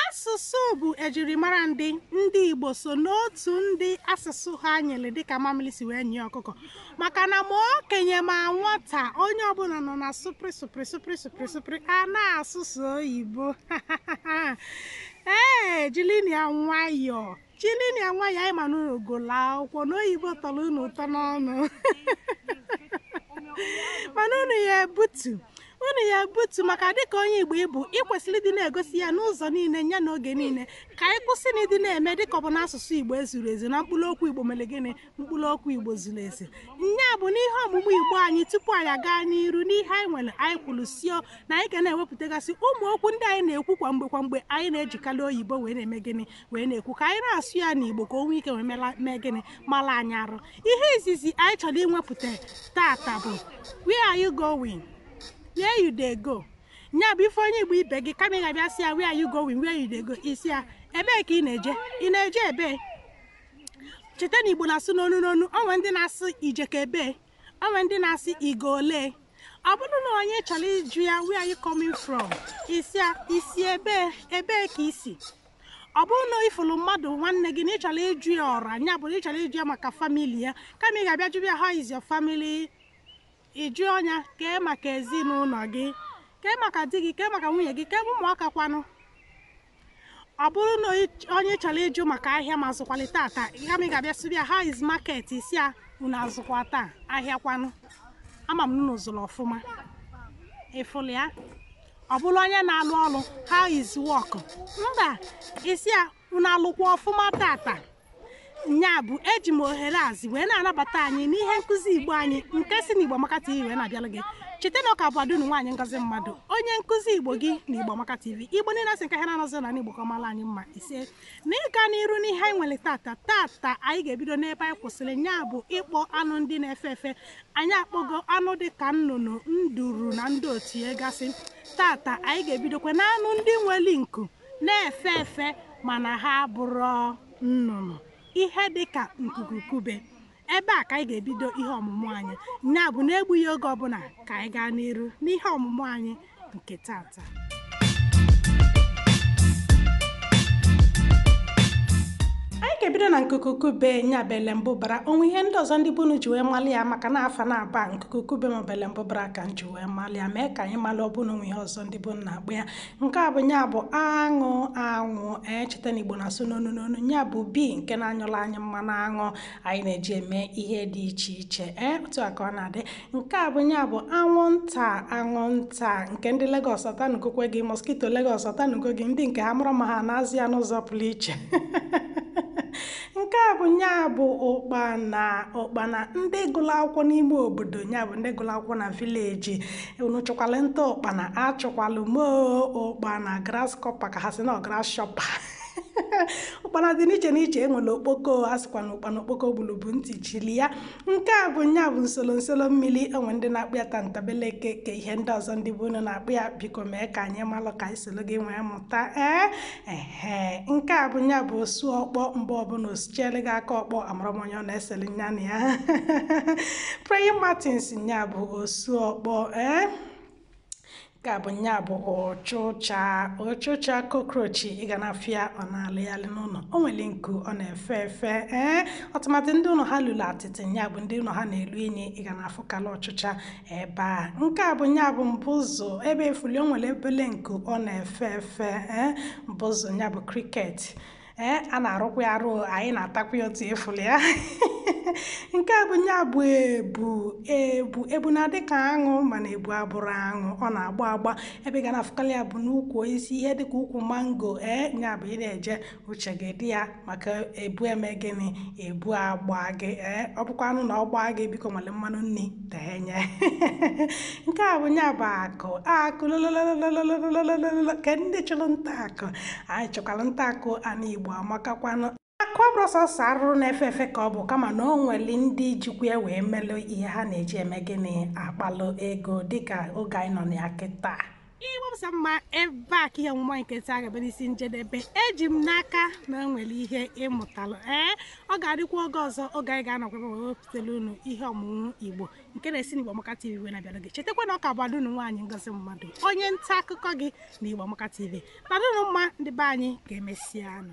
Asụsụ bụ ejirimara ndị ndị Igbo so n'otu ndị asụsụ ha nyiri dịka mamịrị si wee nyie ọkụkọ maka na ma okenye ma nwata onye ọbụla nọ na sụprị sụprị sụprị sụprị sụprị a na-asụsụ oyibo ee jilini ya nwayọọ Jilini ya nwayọọ anyị ma na unu gụlụ akwụkwọ na oyibo tọrọ unu ụtọ n'ọnụ mana unu ya ebutu unu ya ebutu maka dịka onye igbo ị bụ ị kwesịrị ịdị na-egosi ya n'ụzọ niile ya na oge niile ka anyị kwụsị na ịdị na-eme dịka ọ bụ na asụsụ igbo ezurọ ezu na mkpụrụ okwu igbo mere gịnị mkpụrụ okwu igbo zuru ezu nya bụ n'ihe ọmụmụ igbo anyị tupu anyị aga n'iru n'ihe anyị nwere anyị kwuru sị o na anyị ga na-ewepụtagasị ụmụ okwu ndị anyị na-ekwu kwa mgbe kwa mgbe anyị na-ejikarị oyibo wee na-eme gịnị wee na-ekwu ka anyị na-asụ ya n'igbo ka o nwee ike wee mee gịnị mara anyị arụ ihe izizi anyị chọrọ iwepụta tata bụ where are you going where you dey go nya bụ ị fụ onye igbo ibe gị kama ị ga-abịa sị ya where are you going where you dey go ị sị ya ebee ka ị na-eje ị na-eje ebee cheta na igbo na-asụ n'onu n'onu o nwee ndị na-asụ i jeko ebee o nwee ndị na-asụ ị ga olee ọ bụrụ na onye chọrọ ịjụ ya where are you coming from ị sị ya i si ebee ebee ka i si ọ bụrụ na ị fụlụ mmadụ nwanne gị na ị chọrọ ịjụ ya ọra nya bụ na ị chọrọ ịjụ ya maka family ya kama ị ga-abịa jụba ya how is your family ị jụọ nya kee maka ezinụlọ gị kee maka di gị kee maka nwunye gị kee ụmụaka kwanụ ọ bụrụ na onye chọrọ ịjụ maka ahịa ma a zụkwalị tata kama ị ga-abịa sịba ya how is market ị sị ya unu azụkwa taa ahịa kwanụ ama m na unu zụrụ ọfụma ị fụlụ ya ọ bụrụ onye na-alụ ọrụ how is work mba ị sị ya unu alụkwa ọfụma tata nya bụ eji m ohere a zi wee na-anabata anyị n'ihe nkụzi igbo anyị nke si n'igbo amaka tv wee na-abịara gị cheta na ọ ka bụ ada unu nwaanyị ngozi mmadụ onye nkụzi igbo gị na igbo amaka tv igbo niile asị nke ha na-anọzi na igbo ka ọ mara anyị mma ise n'ịga n'iru n'ihe anyị nwere tata tata anyị ga-ebido n'ebe anyị kwụsịrị nya bụ ịkpọ anụ ndị na-efe efe anyị akpọgo anụ dị ka nnụnụ nduru na ndị otu ya gasị tata anyị ga-ebidokwa na anụ ndị nwere nku na-efe efe mana ha abụrọ nnụnụ ihe dị ka nkukukube ebe a ka anyị ga-ebido ihe ọmụmụ anyị ya bụ n'egbughị oge ọbụla ka anyị gaa n'iru n'ihe ọmụmụ anyị nke tata anyị ga-ebido na nkukukube nya bụ elembụbara o nwee ihe ndị ọzọ ndị be unu ji wee mali ya maka na afa naabọ nkukukube maọbụ elembụbara ka m ji wee mali ya mee ka anyị mali ọ bụ na o nwee ihe ọzọ ndị be unu na-akpọ ya nke a bụ nya bụ aṅụ aṅụ cheta na igbo na-asụ n'onu n'onu nya bụ bee nke na-anyụlụ anyị mmanụ aṅụ anyị na-eji eme ihe dị iche iche ee eh, otu a ka ọ na-adị nke a bụ nya bụ anwụnta anwụnta nke ndị Lagos ọ tanugokwa gị mosquito Lagos ọ tanugo gị ndị nke ha amarọ m ma ha na-azụ ya n'ụzọ pụrụ iche nke a bụ nya bụ ụkpana ụkpana ndị gụrụ akwụkwọ n'ime obodo nya bụ ndị gụrụ akwụkwọ na village unu chụkwalụ nta ụkpana achụkwalụ m oo ụkpana grasshopper ka ha si na grasshopper ụkpana dị n'iche n'iche e nwere okpoko a sịkwa na ụkpana okpoko gbulu bụ ntị chili ya nke a bụ nya bụ nsolo nsolo mmiri e nwee ndị na-akpọ ya tantabeleke kee ihe ndị ọzọ ndị be unu na-akpọ ya biko mee ka anyị malụ ka anyị soro gị nwee mụta ee ehe nke a bụ nya bụ osu ọkpọ mgbe ọbụla o sichiere gị aka ọkpọ amarọ m onye ọ na-esere nya na ya praying mantis nya bụ osu ọkpọ ee nke a bụ nya bụ ọchụcha ọchụcha cockroach ị ga na-afụ ya ọ na-alịghalị n'ụlọ o nwere nku ọ na-efe efe ee tụmadụ ndị ụlọ ha lulu atịtị nya bụ ndị ụlọ ha na-elu inyi ị ga na-afụkala ọchụcha ebe a nke a bụ nya bụ mbụzụ ebe ị fụlụ o nwere obele nku ọ na-efe efe ee mbụzụ nya bụ cricket ee eh, a na-arụkwa ya arụ anyị na-atakwa ya otu ị fụlụ ya nke a bụ nya bụ ebu ebu ebu na-adị ka aṅụ mana ebu abụrọ aṅụ ọ na-agba agba ebe ị ga na-afụkarị ya bụ n'ukwu osisi ihe dịka ukwu mango ee eh, nya bụ ị na-eje uche gị dị ya maka ebu emee gịnị ebu agba gị ee eh, ọ bụkwanụ na ọ gbaa gị biko nwelụ mmanụ nri tee nya. Nke a bụ nya bụ akụ akụ lolololo kee ndị chụrụ nta akụ anyị chụkwara nta akụ ana Igbo amakakwanụ akụ ọ bụrọ sọsọ arụrụ na-efe efe ka ọ bụ kama na o nwere ndị jikwa ya wee melụ ihe ha na-eji eme gịnị akpalụ ego dịka oge anyị nọ na ya kịta igbo m sọ mma ebe a ka ihe omume nke taa ga-abịa n'isi njedebe eji m n'aka na o nwere ihe ị mụtalụ ee ọ ga-adịkwa oge ọzọ oge anyị ga-anọkwa ebe a wee wepụtara unu ihe ọmụmụ igbo nke na-esi n'igbo amaka tv wee na-abịara gị chetakwa na ọ ka bụ ada unu nwaanyị ngozi mmadụ onye nta akụkọ gị na igbo amaka tv nọdụnụ mma ndị be anyị ka emesịanụ